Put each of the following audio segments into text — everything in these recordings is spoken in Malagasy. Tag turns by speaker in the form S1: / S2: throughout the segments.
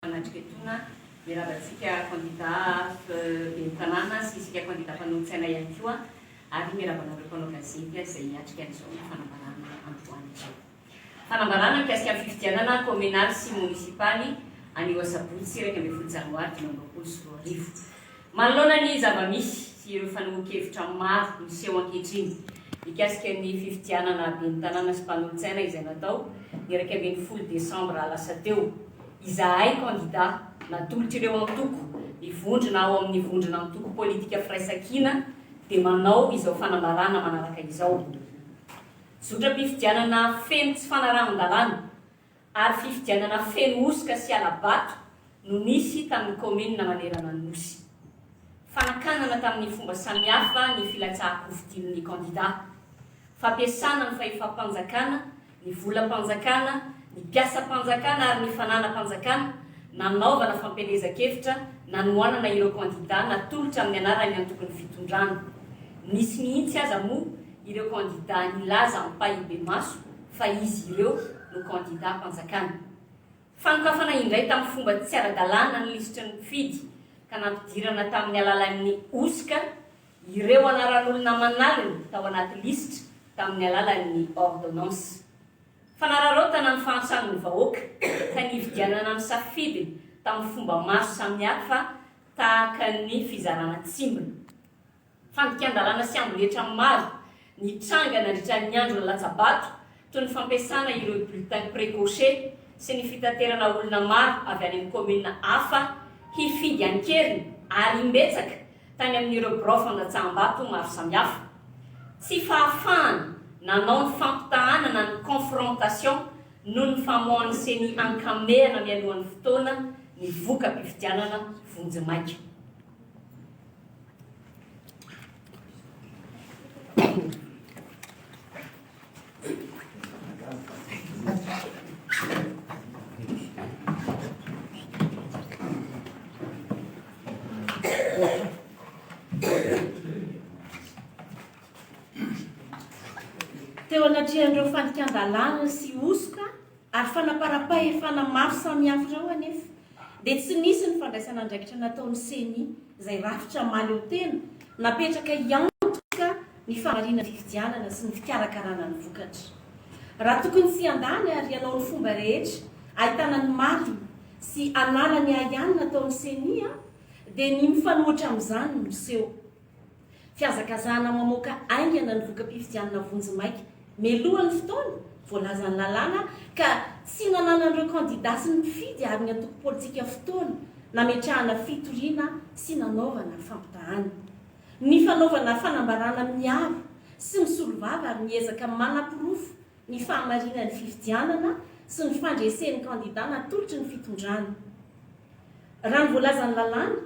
S1: Manatrika etoana, miarahaba antsika kandida ben'ny tanàna sy isika kandida mpanolotsaina ihany koa ary miarahaba anareo mpanao gazety izay hiatrika an'izao fanambarana androany izao. Fanambarana mikasika ny fifidianana kaominaly sy monisipaly anio asabotsy iraika ambin'ny folo janoary dimy amby roapolo sy roa arivo. Manoloana ny zava-misy sy ireo fanehoan-kevitra maro miseho ankehitriny mikasika ny fifidianana ben'ny tanàna sy mpanolotsaina izay natao ny iraika ambin'ny folo desambra lasa teo, izahay kandidà natolotr'ireo antoko mivondrona ao amin'ny vondrona antoko politika Firaisankina dia manao izao fanambarana manaraka izao, Zotram-pifidianana feno tsy fanarahan-dalàna. ary fifidianana feno hosoka sy hala-bato no nisy tamin'ny kaominina manerana ny Nosy. Fanakanana tamin'ny fomba samihafa ny filatsahan-kofidian'ny kandidà. Fampiasana ny fahefam-panjakana, ny volam-panjakana, ny mpiasam-panjakana ary ny fananam-panjakana, nanaovana fampielezan-kevitra nanohanana ireo kandidà natolotra amin'ny anaran'ny antokon'ny fitondrana. Nisy mihitsy aza moa ireo kandidà nilaza ampahibemaso, fa izy ireo no kandidam-panjakana. Fanokafana indray tamin'ny fomba tsy ara-dalàna ny lisitry ny mpifidy ka nampidirana tamin'ny alalan'ny hosoka ireo anaran'olona aman'aliny tao anaty lisitra tamin'ny alalan'ny ordonnance. Fanararaotana ny fahantran'ny vahoaka ka nividianana ny safidiny tamin'ny fomba maro samihafa tahaka ny fizarana tsimbina. Fandikan-dalàna sy amboletra maro nitranga nandritra ny andro lalatsabato, toy ny fampiasana ireo bulletins précochés sy ny fitaterana olona maro avy any amin'ny kaominina hafa hifidy an-keriny ary imbetsaka tany amin'ireo birao fandatsaham-bato maro samihafa. Tsy fahafahana nanao ny fampitahanana ny confrontation noho ny famoahan'ny ceni ankamehana mialohan'ny fotoana ny voka-pifidianana vonjimaika.
S2: Teo anatrehan'ireo fandikan-dalàna sy hosoka, Ary fanaparam-pahefana maro samihafa ireo anefa dia tsy nisy ny fandraisana andraikitra nataon'ny Ceni izay rafitra mahaleotena napetraka hiantoka ny fahamarinan'ny fifidianana sy ny fikarakarana ny vokatra. Raha tokony tsy hiandany ary hanao ny fomba rehetra ahitana ny marina sy anarany ahiany nataon'ny Ceni dia ny mifanohitra amin'izany no seho. Fihazakazahana mamoaka haingana ny voka-pifidianana vonjimaika mialoha ny fotoana voalazan'ny lalàna ka tsy nananan'ireo kandida sy ny mpifidy ary ny antoko politika fotoana nametrahana fitoriana sy nanaovana fampitahàna. Ny fanaovana fanambaràna miaro sy misolovava ary miezaka manaporofo ny fahamarinan'ny fifidianana sy ny fandresen'ny kandidà natolotry ny fitondrana. Raha ny voalazan'ny lalàna,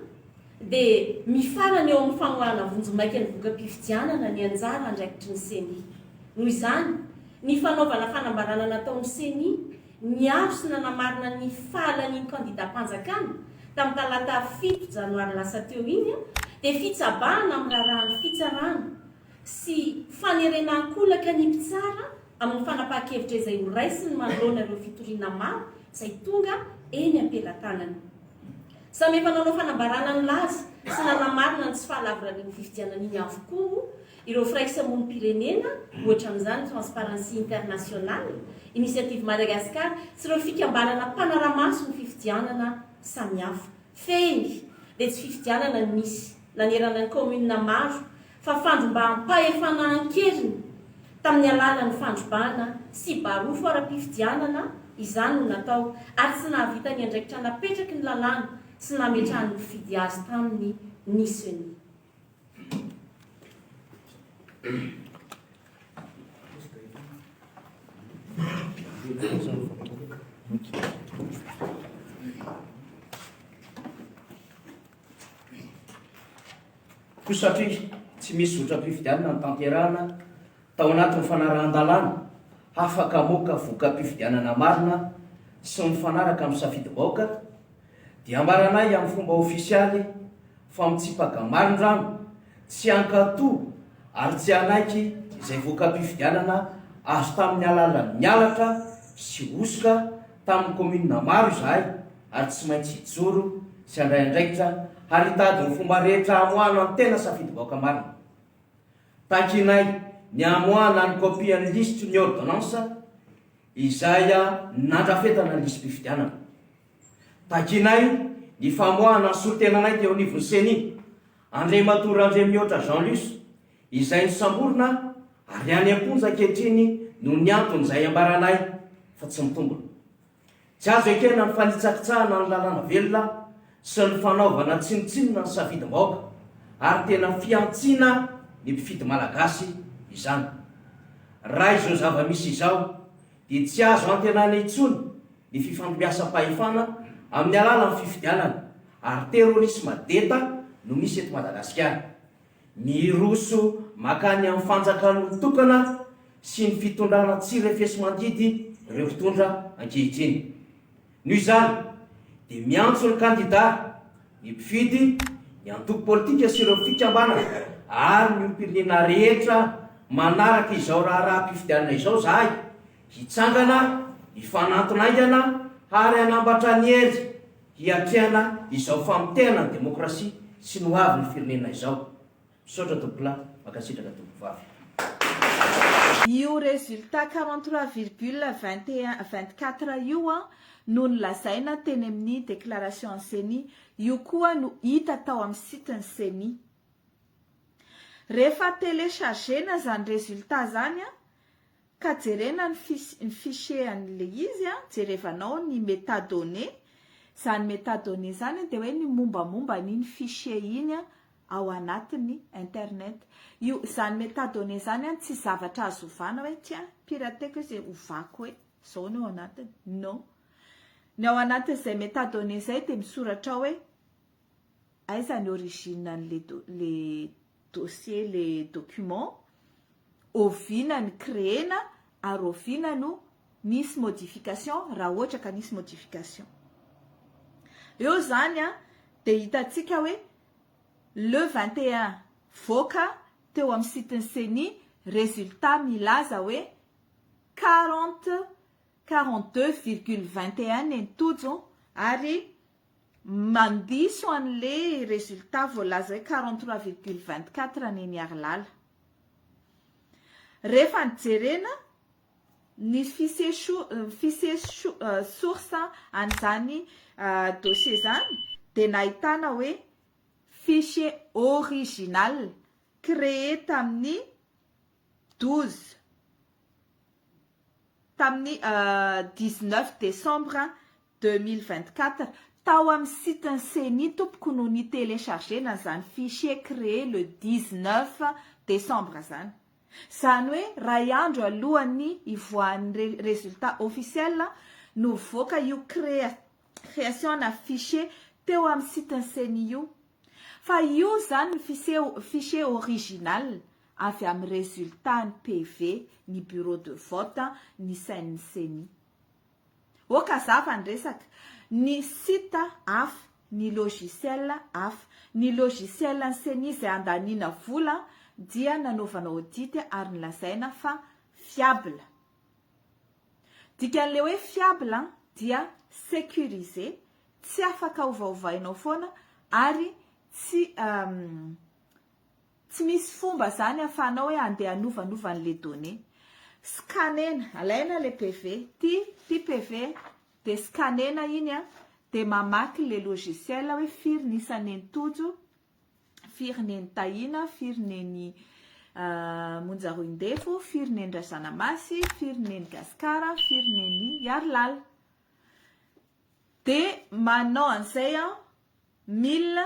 S2: dia mifarana eo amin'ny famoahana vonjimaika ny voka-pifidianana ny anjara andraikitry ny Ceni. Noho izany, ny fanaovana fanambarana nataon'ny Ceni niaro sy nanamarina ny fahalanian'ny kandidàm-panjakana tamin'ny talata fito janoary lasa teo iny dia fitsabahana amin'ny raharahan'ny fitsarana sy fanerena an-kolaka ny mpitsara amin'ny fanapahan-kevitra izay ho raisiny manoloana ireo fitoriana maro izay tonga eny am-pelatanany. Samy efa nanao fanambarana nilaza sy nanamarina ny tsy fahalavorarian'ny fifidianana iny avokoa ireo firaisamonim-pirenena, ohatra amin'izany Transparency International, Initiative Madagascar sy ireo fikambanana mpanara-maso ny fifidianana samihafa. Fehiny dia tsy fifidianana no misy. nanerana ny kaominina maro fa fandrombaham-pahefana an-keriny tamin'ny alalan'ny fandrobana sy barofo ara-pifidianana izany no natao ary tsy nahavita ny andraikitra napetraky ny lalàna sy nametrahan'ny mpifidy azy taminy ny Ceni.
S3: Koa satria tsy misy zotram-pifidianana notanterahina tao anatin'ny fanarahan-dalàna hafaka hamoaka voka-pifidianana marina sy mifanaraka amin'ny safidim-bahoaka, dia ambaranay amin'ny fomba ofisialy fa mitsipaka marindrano tsy hankatò ary tsy hanaiky izay voka-pifidianana azo tamin'ny alàlan'ny halatra sy hosoka tamin'ny kaominina maro izahay. ary tsy maintsy hijoro sy handray andraikitra ary hitady ny fomba rehetra hamoahana ny tena safidim-bahoaka marina. Takinay ny hamoahana ny kopian'ny lisitry ny ôrdônansa izay nandrafetana ny lisi-pifidianana. Takinay ny famoahana ny solontenanay teo anivon'ny Ceni, Andriamatoa Randriamihoatra Jean Luce, izay nosamborina ary any am-ponja ankehitriny noho ny antony izay ambaranay fa tsy mitombina. Tsy azo ekena ny fanitsakitsahana ny lalàna velona sy ny fanaovana tsinontsinona ny safidim-bahoaka ary tena fihantsiana ny mpifidy malagasy izany. Raha izao zava-misy izao dia tsy azo antenaina intsony ny fifandimbiasam-pahefana amin'ny alalan'ny fifidianana ary terrorisme deta no misy eto Madagasikara. Ny hiroso makany amin'ny fanjakan'olon-tokana sy ny fitondrana tsy refesi-mandidy ireo mpitondra ankehitriny. Noho izany dia miantso ny kandida, ny mpifidy, ny antoko politika sy ireo fikambanana ary ny olom-pirenena rehetra manaraka izao raharaham-pifidianana izao izahay hitsangana hifanantona haingana ary hanambatra ny hery Hiatrehana izao famotehana ny demokrasia sy ny ho avy ny firenena izao. Misaotra Tompolahy, mankasitraka Tompovavy.
S4: Io résultat quarante trois virgule vingt et un, vingt quatre io an, no nolazaina teny amin'ny déclaration an'ny ceni, io koa no hita tao amin'ny site ny ceni. Rehefa télécharger-na izany résultat izany an, Ka jerena ny fis ny fichier an'le izy a, jerevanao ny metadonnées, zany metadonnées zany de hoe ny mombamomba an'iny fichier iny a ao anatin'ny internet. Io zany metadonnées zany a tsy zavatra azo ovana hoe tiens pirateko izy ovako hoe zao ny ao anatiny, non! Ny ao anatin'izay metadonnées zay de misoratra ao hoe aiza ny origine an'le do le dossier le document, oviana ny créena ary oviana no nisy modification raha ohatra ka nisy modification. Eo izany an, dia hitantsika hoe le vingt et un voaka teo amin'ny site ny ceni résultat milaza hoe quarante, quarante deux virgule vingt et un ny an'i Tojo ary Mandiso anle resultat voalaza hoe quarante trois virgule vingt quatre neny Harilala. Rehefa ny jerena ny fise source an'izany dossier zany dia nahitana hoe fichier original cree tamin'ny douze tamin'ny dix neuf decembre Deux mille vingt quatre, tao amin'ny site ny ceni tompoko no ni telecharger na izany fichier cree le dix neuf decembre izany. Izany hoe iray andro alohan'ny hivoahan'ny re resultat officiel no nivoaka io crea creation na fichier teo amin'ny site ny ceni io. Fa io izany ny fisie fichier original avy amin'ny resultat ny PV ny bureau de vote ny sain'ny ceni. Oka zava ny resaka, ny site hafa, ny logiciel hafa. Ny logiciel ny ceni izay andaniana vola dia nanaovana audit ary nolazaina fa fiable. Dikan'ilay hoe fiable dia securisé, tsy afaka ovaovainao foana ary tsy Tsy misy fomba zany afahanao hoe andeha anovanova ny le données. Scanner-na, alaina le PV, ty ty PV de scanner-na iny a, de mamaky le logiciel hoe firy ny isa neny Tojo, firy neny Tahina, firy neny Monja Roindefo, firy neny Razanamasy, firy neny Gascar, firy neny Hiarilala. De manao an'izay an, mille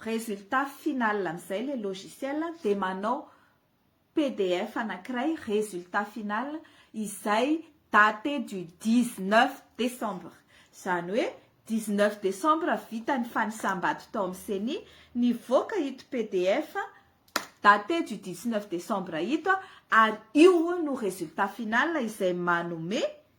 S4: résultat final amin'izay ilay logiciel dia manao pdf anankiray résultat final izay date du 19 décembre izany hoe 19 décembre vita ny fanisam-bato tao amin'ny ceni nivoaka ito pdf date du 19 décembre ito ary io no résultat final izay manome